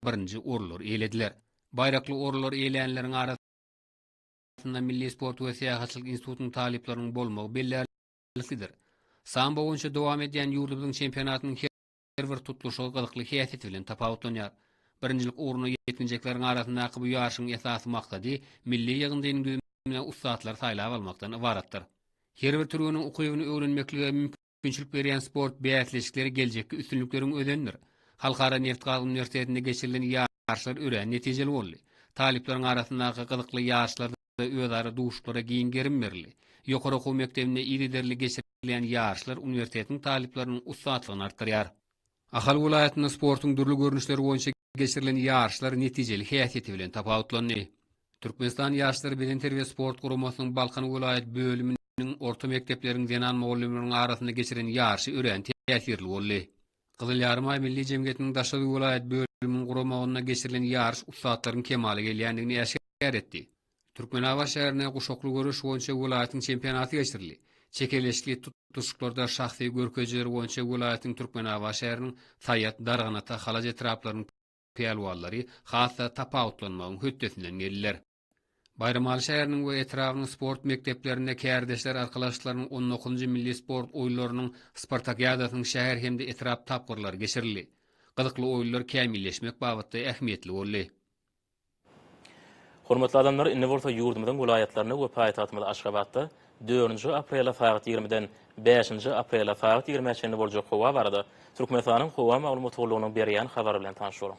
birinji orunlary eýlediler. Baýrakly orunlary eýlänleriň arasynda Milli sport we syýahatçylyk institutynyň talyplarynyň bolmagy bellärliklidir. Sambo boýunça dowam edýän ýurdumyzyň çempionatynyň her bir tutluşygy gyzykly häsiýeti bilen tapawutlanýar. Birinjilik ugruna ýetginjekleriň arasyndaky bu ýaryşyň esasy maksady milli ýygyndynyň düzümine ussatlary saýlap almakdan ybaratdyr. Her bir türgeniň ukybyny öwrenmeklige üpjünçilik berýän sport bäsleşikleri geljekki üstünlikleriň özenidir. Halkara nebtgaz uniwersitetinde geçirilen ýaryşlar örän netijeli boldy. Talyplaryň arasyndaky gyzykly ýaryşlarda özara duşuşyklara giň gerim berildi. Ýokary okuw mekdebinde yzygiderli geçirilýän ýaryşlar uniwersitetiň talyplarynyň ussatlygyny artdyrýar. Ahal welaýatynda sportuň dürli görnüşleri boýunça geçirilen ýaryşlar netijeli häsiýeti bilen tapawutlandy. Türkmenistan ýaşlary bedenterbiýe sport guramasynyň Balkan welaýat bölüminiň orta mekdepleriň zenan mugallymlarynyň arasynda geçiren ýaryşy örän täsirli boldy. Gyzyl Ýarymaý milli jemgyýetiniň Daşoguz welaýat bölüminiň guramagynda geçirilen ýaryş ussatlaryň kemala gelýändigini äşgär etdi. Türkmenabat şäherinde guşakly göreş boýunça welaýatyň çempionaty geçirildi. Çekeleşikli tutluşyklarda şahsy görkezijiler boýunça welaýatyň Türkmenabat şäheriniň, Saýat, Darganata, Halaç etraplarynyň pälwanlary has-da tapawutlanmagyň hötdesinden geldiler. Baýramaly şäheriniň we etrabynyň sport mekdeplerinde Kärdeşler arkalaşyklarynyň on dokuzynjy milli sport oýunlarynyň spartakiadasynyň şäher hem-de etrap tapgyrlary geçirildi. Gyzykly oýunlar kämilleşmek babatda ähmiýetli boldy. Hormatly adamlar, indi bolsa ýurdumyzyň welaýatlarynda we paýtagtymyz Aşgabatda dördünji aprele sagat ýigrimiden bäşinji aprele sagat ýigrimä çenli boljak howa barada Türkmenistanyň Howa maglumat gullugynyň berýän habary bilen tanyş boluň.